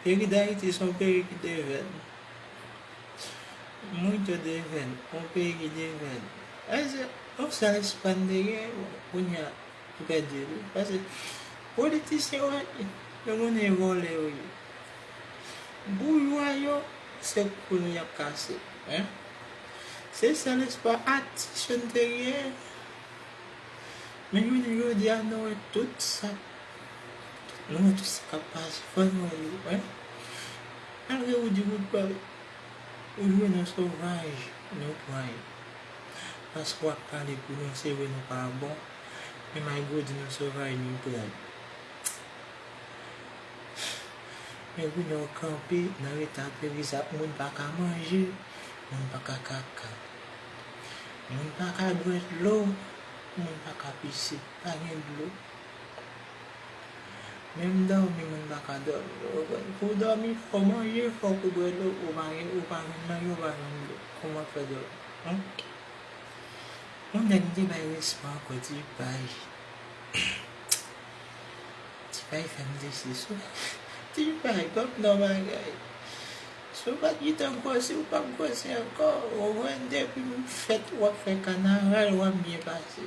Peyi Dayiti son peyi ki devèn. Moun yo devèn. On peyi ki devèn. Pase on sèl espan te gen bon kounya nou pèdi li. Pase politisyen wè nou konnen vòlè yo ye. Boujwa yo se kou nou yap kase. Se sèl espwa atis yo nou te gen. Men jounen jodi a nou wè tout sa. Nou menm tout sa kap pase fòk nou wè yo wè malgre ou di ou t pral ou jwe nan sovaj nou pran yo paske wap pale pou nou se vre nou pa bon men malgre ou di nou sovaj nou pran yo men goumen ou kanpe nan leta peyi sa moun paka manje moun paka kaka moun paka bwè dlo moun paka pise pa gen dlo. Menm dòmi moun paka dòmi nou konprann pou w dòmi fòw manje fòk ou bwè dlo ou pa gen ou pa jwenn manje ou pa jwenn dlo kòman fè dòmi humm yon nèg m te bay respè ankò ti pay ti pay fè m desi sou ti pay banm non bagay si w pat gentan gròsi w pap gròsi ankò ou konprann depi m fèt wap fè kanaval wap byen pase.